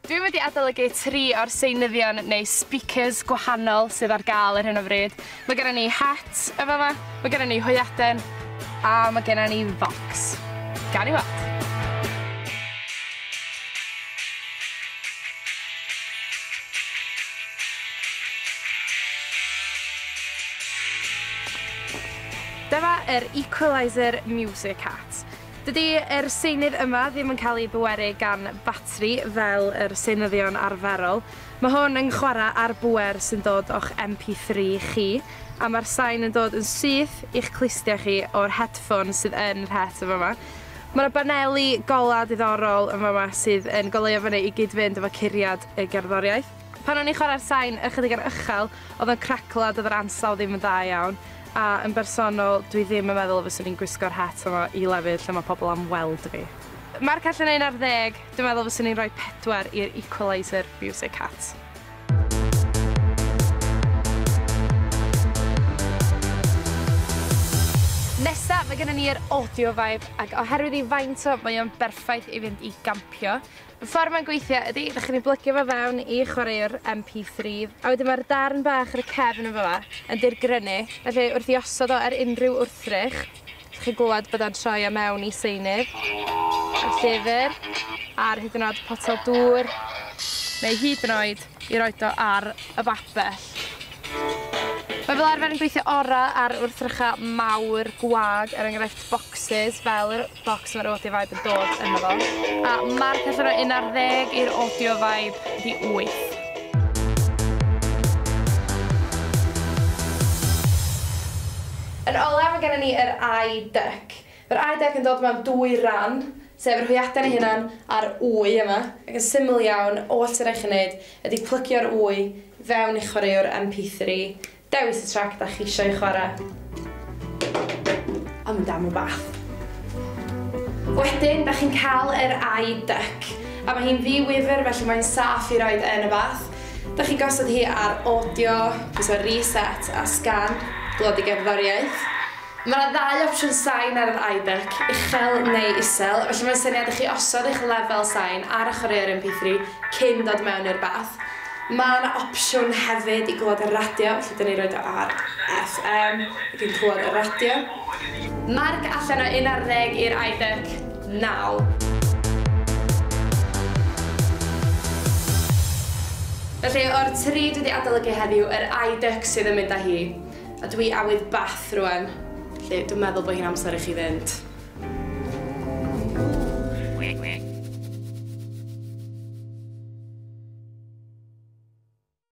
Dwi wedi adolygu tri o'r seinyddion neu speakers gwahanol sydd ar gael ar hyn o fryd. Mae gennym ni het yn fama, mae gennym ni hwyaden a mae gennym ni fox. Gawn ni weld. Dyma yr Equaliser Music Hat. Dydy yr seunydd yma ddim yn cael ei bweru gan batri fel yr seunyddion arferol. Mae hwn yn chwarae ar bŵer sy'n dod o'ch MP3 chi, a mae'r sain yn dod yn syth i'ch clustia chi o'r headphone sydd yn yr het yn fama. Mae 'na baneli golau diddorol yn fama sydd yn goleuo fyny i gyd-fynd efo curiad y gerddoriaeth. Pan o'n i'n chwarae'r sain ychydig yn uchel, oedd o'n craclo a doedd yr ansawdd ddim yn dda iawn, a yn bersonol, dwi ddim yn meddwl y fyswn i'n gwisgo'r het yma i lefydd lle mae pobl am weld fi. Marc allan o un ar ddeg, dwi'n meddwl fyswn i'n rhoi pedwar i'r Equaliser Music Hat. Nesa, mae gennon ni yr Audio Vibe, ac oherwydd ei faint o, mae o'n berffaith i fynd i gampio, Y ffordd mae'n gweithio ydi, dach chi'n ei blygio fo fewn i chwaraewr MP3, a wedyn mae'r darn bach ar y cefn yn fama yn dirgrynu, felly wrth i osod o ar unrhyw wrthrych, dach chi'n glywed bod o'n troi o mewn i seinydd, y llyfr, ar hyd yn oed potel dŵr, neu hyd yn oed i roid o ar y babell. Mae fel arfer yn gweithio orau ar wrthrychau mawr gwag, er enghraifft, bocsys fel yr bocs ma'r audio vibe yn dod ynddo fo. A marc allan o un ar ddeg i'r audio vibe rhi wyth. Yn olaf mae gennym ni yr eye duck. Mae'r eye duck yn dod mewn dwy ran, sef yr hwyaden ei hunan a'r wy yma, ac yn syml iawn, oll sy'n rhaid i chi wneud ydy plygio'r wy fewn i'ch chwaraewr MP3, Dewis y trac dach chi eisiau ei chwarae. A mynd am y bath. Wedyn dach chi'n cael yr eye duck, a mae hi'n ddi-wifr felly mae'n saff i roid yn y bath. Dach chi'n gosod hi ar audio, pwyso reset a sgan, dŵad i gerddoriaeth. Mae yna ddau opsiwn sain ar yr iBic, uchel neu isel, felly mae'n syniad i chi osod eich lefel sain ar y chwaraeo'r MP3 cyn dod mewn i'r bath. Mae yna opsiwn hefyd i glywed y radio, felly dyn ni roid o ar FM ac yn clywed y radio. Marc allan o un ar ddeg i'r iBic nawr. Felly, o'r tri dwi 'di adolygu heddiw, yr iBic sydd yn mynd â hi. A dwi awydd bath rwan. Felly, dwi'n meddwl bod hi'n amser i chi fynd.